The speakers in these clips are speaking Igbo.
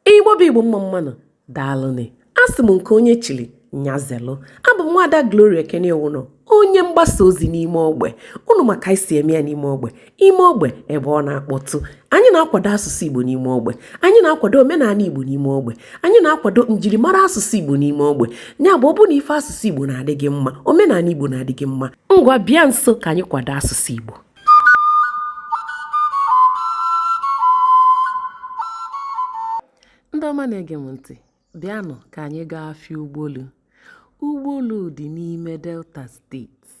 igbo bụ igbo mma mma nụ daalụnị asị m nke onye chili nya zelụ abụ m nwaada gloria ekene iwunọ onye mgbasa ozi n'ime ogbe unu ma ka anyị si eme ya n'ime ogbe ime ogbe ebe ọ na-akpọtụ anyị na-akwado asụsụ igbo n'ime ogbe anyị na-akwado omenala igbo n'ime ogbe anyị na-akwado njirimara asụsụ igbo n'ime ogbe ya bụ ọ bụ na ife asụsụ igbo na-adị gị mma omenala igbo na-adị gị mma ngwa bịa nso ka anyị kwado asụsụ igbo ndị ọma na-ege m ntị Bịanụ ka anyị gaa afịa Ugbolu. Ugbolu dị n'ime Delta steeti.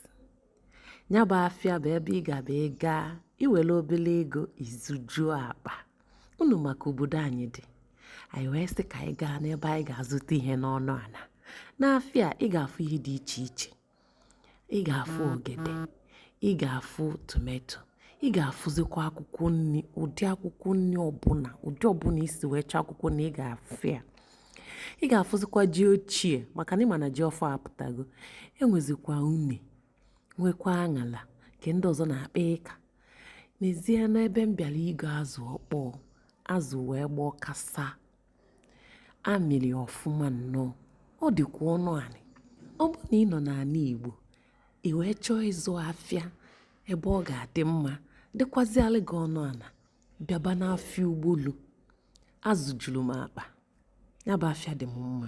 Ya bụ afịa bụ ebe ị ga-abụ ị gaa i were obere ego ị zụjuo akpa. Unu ma ka obodo anyị dị. Anyị wee sị ka anyị gaa n'ebe anyị ga-azụta ihe n'ọnụ ala. N'afịa a, ị ga-afụ ihe dị iche iche. ị ga-afụ ogede ị ga-afụ tomato ị ga-afụzikwa akwụkwọ nri ụdị akwụkwọ nri ọbụla ụdị ọbụla i si wee chọọ akwụkwọ nri ị ga-afụ ya ị ga-afụzikwa ji ochie maka na ị ma na ji ọfụụ apụtago e nwezikwa une nwekwa aṅala nke ndị ọzọ na-akpọ ịka neezienụ ebe m bịara ịgo azụ ọkpọọ azụ wee gbaa kasa a mịrị ọfụma nnọọ ọ dịkwa ọnụ anị ọ bụ na ị nọ n'ala igbo ị wee chọọ ịzụ afịa ebe ọ ga-adị mma dịkwazịalị gị ọnụ ala bịaba n'afịa ugbolu azụ juru m akpa ya bụ afịa dị m mma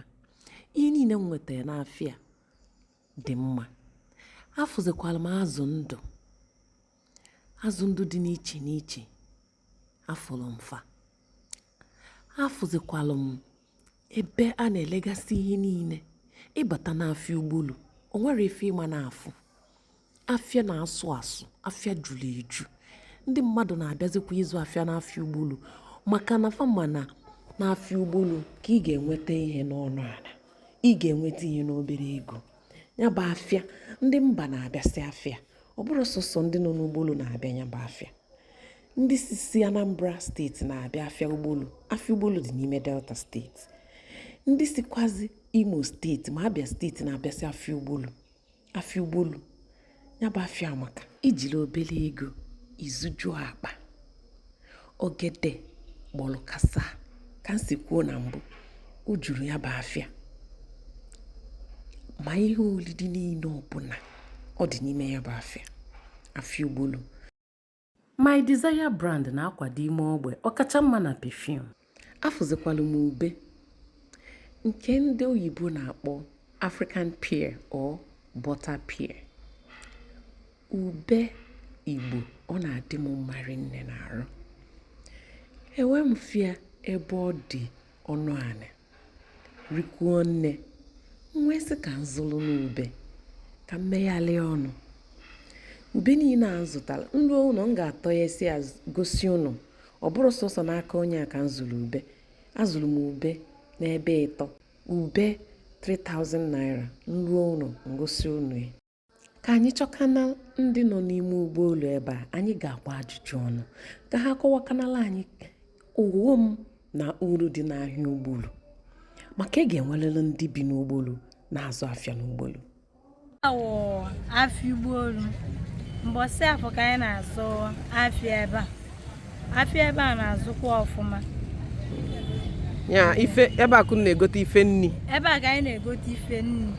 ihe niile m nwetara n'afịa dị mma afụzikwara m azụ ndụ azụ ndụ dị n'iche n'iche afụrụ m fa afụzikwalụ m ebe a na-elegasị ihe niile ị bata n'afịa ugbolu o nwerọ ife ị ma na-afụ afịa na-asụ asụ afịa juru eju ndị mmadụ na-abịazikwa ịzụ afịa n'afịa ugbolu maka na fa ma na n'afịa ugbolu ka ị ga-enweta ihe n'ọnụ ala ị ga-enweta ihe n'obere ego ya bụ afịa ndị mba na-abịasị afịa ọ bụrọ sọsọ ndị nọ n'ugbolu na-abịa ya bụ afịa ndị si anambra steeti na-abịa afịa ugbolu afịa ugbolu dị n'ime delta steeti ndị sikwazi imo steeti ma abia steeti na-abịasị afịa ugbolu afịa ugbolu ya bụ afịa amaka i jiri obere ego ị zụjuo akpa ogede gbọrọ kasa ka m si kwuo na mbụ o juru ya bụ afịa ma ihe olili niile ọbụla ọ dị n'ime ya bụ afịa afịa ugbolu My Desire brand na-akwado ime ogbe ọkacha mma na perfume. Afụzikwala m ube nke ndị oyibo na-akpọ African pear or butter pear. Ube Igbo ọ na-adị m mma rinne n'arụ. Ewe m fụ ya ebe ọ dị ọnụ anị. rikwuo nne m wee sị ka m zụlụ nụ ube ka m meghalịa ọnụ ube niile a m zụtara m ruo ụnọ m ga-atọ ya si ya gosi ụnụ ọ bụrụ sọsọ n'aka onye a ka m zụrụ ube azụrụ m ube n'ebe ịtọ ube 3000 naira m ruo ụnọ m gosi ụnụ ya ka anyị chọkana ndị nọ n'ime Ugbolu ebe a anyị ga-agba ajụjụ ọnụ ka ha kọwakanala anyị ọghọm na uru dị n'ahịa Ugbolu maka a ga-enwerịrị ndị bi n'Ugbolu na-azụ afịa n'Ugbolu awụ afịa Ugbolu mbọsị afọ ka anyị na-azụ afịa ebe a afịa ebe a na-azụkwa ọfụma ya ife ebe a ka unu na-egote ife nni ebe a ka anyị na-egote ife nni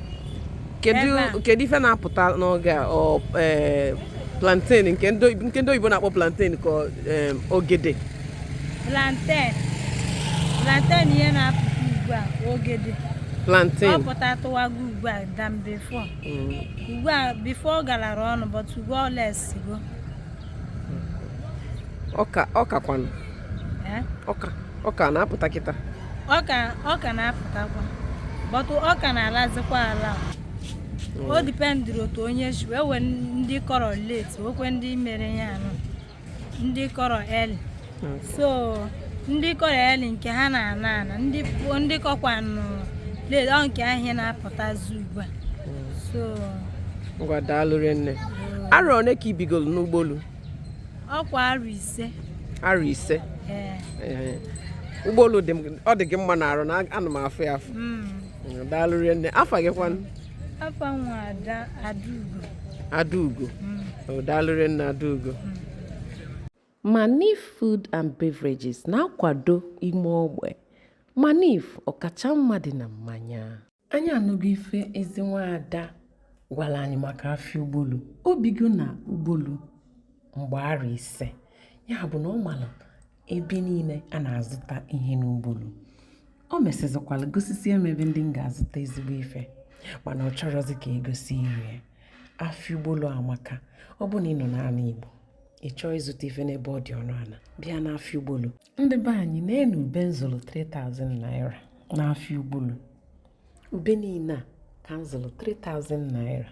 kedu ife na-apụta n'oge a ọ ee, plantain nke ndị oyibo- nke ndị oyibo na-akpọ plantain ka ọ, ee, ogede plantain plantain ihe na-apụta ugbu a ogede ọ plantain pụtatụwago ugbu a than before Mm. ugbu a before ọ galara ọnụ but ugbu a ọ lesigo ọka ọka kwanụ eh? ọka ọka na-apụta kịta ọka ọka na-apụtakwa but ọka na-alazikwa ala hmm. o dependịrị otu onye si were ndị kọrọ late nwekwee ndị mere ya anụ ndị kọrọ early so ndị kọrọ early nke ha na-ana ana ndị kọkwanụ late ọ nke ha na-apụtazi ugbu a so ngwa daalụ nne arọ one ka i bigolu n'Ugbolu ọkwa arọ ise arọ ise Ugbolu ọ dị gị mma n'arụ ana m afụ ya afụ hmm. daalụ nne afa gị kwanụ afa m wụ adaugo adaugo hmm. daalụ nne adaugo hmm. Manif Food and Beverages na-akwado ime ogbe. Manif, ọkacha mma dị na mmanya. Anyị anụgo ife ezi nwaada gwara anyị maka afịa Ugbolu. O bigo na Ugbolu mgbe arọ ise. Ya bụ na ọ mara ebe niile a na-azụta ihe n'Ugbolu. O mesịzịkwara gosisie m ebe ndị m ga-azụta ezigbo ife mana ọ chọrọzị ka e gosi iru ya. Afịa Ugbolu amaka. Ọ bụ na ị nọ n'ala Igbo. ị chọọ ịzụta ife n'ebe ọ dị ọnụ ana bịa n'afịa ugbolu ndị be anyị neenụ ube m zụlụ 3000 naira n'afịa ugbolu ube niine a ka m zụlụ 3000 naira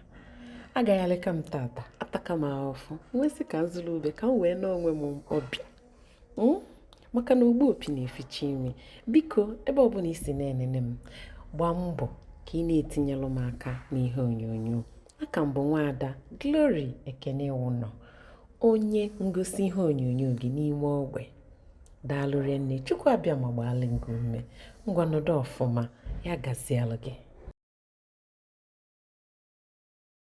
agaghalịka m taata ataka m afụfụ m wee sị ka m zụlụ ube ka m wee nee onwe m ọbịa maka na ogbu opi na-eficha imi biko ebe ọbụna i si na-enene m gbaa mbọ ka ị na-etinyelụ m aka n'ihe onyonyo a ka m bụ nwaada Glory Ekene Iwụnọ onye ngosi ihe onyonyo gị n'ime ogbe daalụ rinne Chukwu Abịama gbaalị ngị ume ngwa nọdụ ọfụma ya gazielụ gị